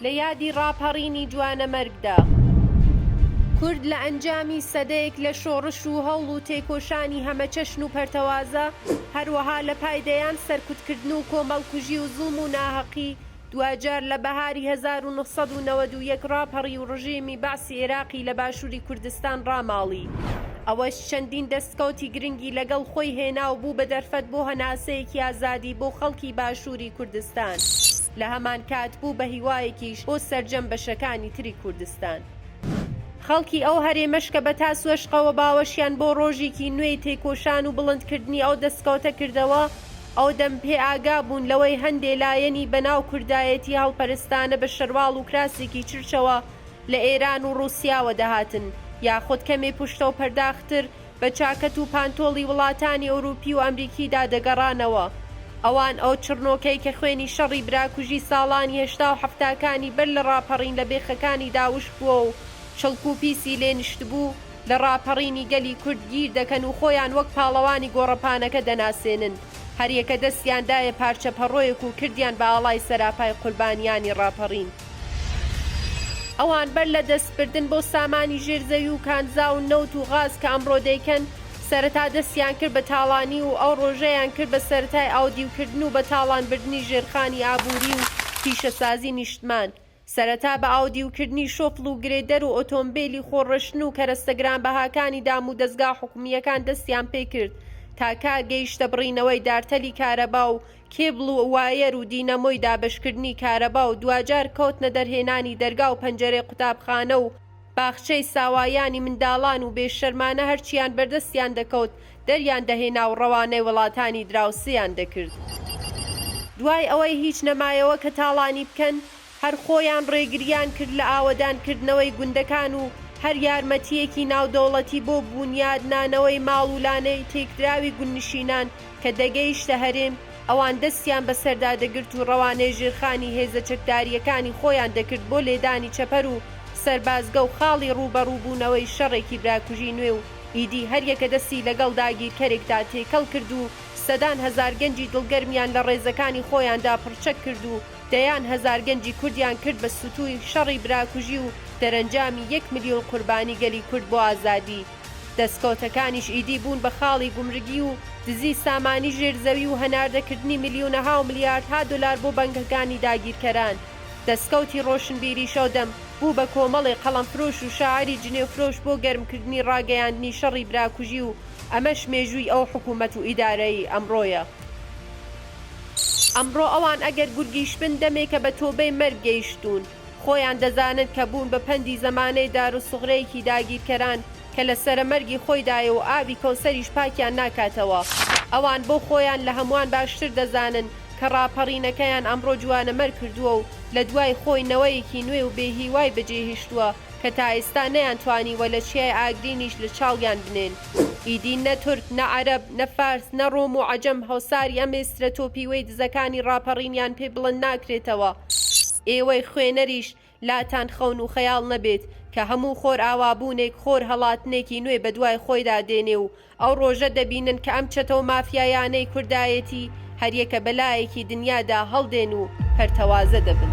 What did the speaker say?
لە یادی ڕاپەڕینی جوانەمەرگدا، کورد لە ئەنجامی سەدەیەک لە شۆڕش و هەوڵ و تێکۆشانی هەمەچەشن و پەرتەوازە، هەروەها لە پای دەیان سەرکوتکردن و کۆمەڵکوژی و زوڵم و ناهەقی، دواجار لە بەهاری هەزار و نۆ سەد و نەوەد و یەک ڕاپەڕی و ڕژێمی بەعسی عێراقی لە باشووری کوردستان ڕاماڵی. ئەوەش چەندین دەستکەوتی گرنگی لەگەڵ خۆی هێنا و بوو بە دەرفەت بۆ هەناسەیەکی ئازادی بۆ خەڵکی باشووری کوردستان. لە هەمانکات بوو بە هیوایەکیش بۆ سەرجەم بەشەکانی تری کوردستان. خەڵکی ئەو هەرێمەش کە بە تاس وەشقەوە باوەشیان بۆ ڕۆژێکی نوێی تێکۆشان و بڵندکردنی ئەو دەستکەوتە کردەوە، ئەودەم پێ ئاگا بوون لەوەی هەندێ لایەنی بە ناو کوردایەتی هەڵپەرستانە بە شەرواڵ و کراسێکی چرچەوە لە ئێران و ڕووسیاوە دەهاتن یاخود کەمێ پوشتە و پەرداخ تر بە چاکەت و پانتۆڵی وڵاتانی ئەوروپی و ئەمریکیدا دەگەڕانەوە ئەوان ئەو چڕنۆکەی کە خوێنی شەڕی براکوژی ساڵانی هەشتا و حەفتاکانی بەر لە ڕاپەڕین لە بێخەکانیدا وشک بووە و چڵک و پیسی لێ نشتبوو لە ڕاپەڕینی گەلی کورد گیر دەکەن و خۆیان وەک پاڵەوانی گۆڕەپانەکە دەناسێنن، هەریەکە دەستیان دایە پارچە پەڕۆیەک و کردیان بە ئاڵای سەراپای قوربانیانی ڕاپەڕین. ئەوان بەر لە دەستبردن بۆ سامانی ژێر زەوی و کانزا و نەوت و غاز کە ئەمڕۆ دەیکەن، سەرەتا دەستیان کرد بە تاڵانی و ئەو ڕۆژەیان کرد بە سەرەتای ئاودیوکردن و بەتاڵانبردنی ژێرخانی ئابووری و پیشەسازی نیشتمان، سەرەتا بە ئاودیوکردنی شۆفڵ و گرێدەر و ئۆتۆمبێلی خۆڕشتن و کەرەستە گرانبەهاکانی دامودەزگا حکومییەکان دەستیان پێ کرد تاکا گەیشتە بڕینەوەی دارتەلی کارەبا و کێبڵ و وایەر و دینەمۆی دابەشکردنی کارەبا و دواجار کەوتنە دەرهێنانی دەرگا و پەنجەرەی قوتابخانە و باخچەی ساوایانی منداڵان و بێ شەرمانە هەرچیان بەردەستیان دەکەوت دەریان دەهێنا و ڕەوانەی وڵاتانی دراوسێیان دەکرد. دوای ئەوەی هیچ نەمایەوە کە تاڵانی بکەن، هەر خۆیان ڕێگریان کرد لە ئاوەدان کردنەوەی گوندەکان و هەر یارمەتییەکی ناودەوڵەتی بۆ بوونیاد نانەوەی ماڵ و لانەی تێکدراوی گوندنشینان کە دەگەیشتە هەرێم، ئەوان دەستیان بەسەردا دەگرت و ڕەوانەی ژێرخانی هێزە چەکدارییەکانی خۆیان دەکرد بۆ لێدانی چەپەر و سەربازگە و خاڵی ڕووبەڕووبوونەوەی شەڕێکی براکوژی نوێ و ئیدی هەریەکە دەستی لەگەڵ داگیرکەرێکدا تێکەڵ کرد و سەدان هەزار گەنجی دڵگەرمیان لە ڕێزەکانی خۆیاندا پڕچەک کرد و دەیان هەزار گەنجی کوردیان کرد بە ستووی شەڕی براکوژی و دەرەنجامی یەک ملیۆن قوربانی گەلی کورد بۆ ئازادی دەستکەوتەکانیش ئیدی بوون بە خاڵی گومرگی و دزی سامانی ژێر زەوی و هەناردەکردنی ملیونەها و ملیاردها دۆلار بۆ بەنگەکانی داگیرکەران. دەستکەوتی ڕۆشنبیریش ئەو دەم بوو بە کۆمەڵێ قەڵەمفرۆش و شاعری جنێوفرۆش بۆ گەرمکردنی ڕاگەیاندنی شەڕی براکوژی و ئەمەش مێژووی ئەو حکوومەت و ئیدارەیەی ئەمڕۆیە. ئەمڕۆ ئەوان ئەگەر گورگیش بن دەمێکە بە تۆبەی مەرگ گەیشتوون. خۆیان دەزانن کە بوون بە پەندی زەمانەی داروسوغرەیەکی داگیرکەران کە لە سەرەمەرگی خۆیدایە و ئاوی کەوسەریش پاکیان ناکاتەوە. ئەوان بۆ خۆیان لە هەمووان باشتر دەزانن کە ڕاپەڕینەکەیان ئەمڕۆ جوانەمەرگ کردووە و لە دوای خۆی نەوەیەکی نوێ و بێهیوای بەجێهیشتووە کە تا ئیستا نەیان توانیوە لە چیای ئاگرینیش لە چاویان بنێن ئیدی نە تورک نە عەرەب نە فارس نە ڕۆم و عەجەم هەوساری ئەم ئێسترە تۆپیوەی دزەکانی ڕاپەڕینیان پێ بڵند ناکرێتەوە ئێوەی خوێنەریش لاتان خەون و خەیاڵ نەبێت کە هەموو خۆرئاوابوونێک خۆر هەڵاتنێکی نوێ بەدوای خۆیدا دێنێ و ئەو ڕۆژە دەبینن کە ئەم چەتەو مافیایانەی کوردایەتی هەریەکە بە لایەکی دنیادا هەڵدێن و پەرتەوازە دەبن.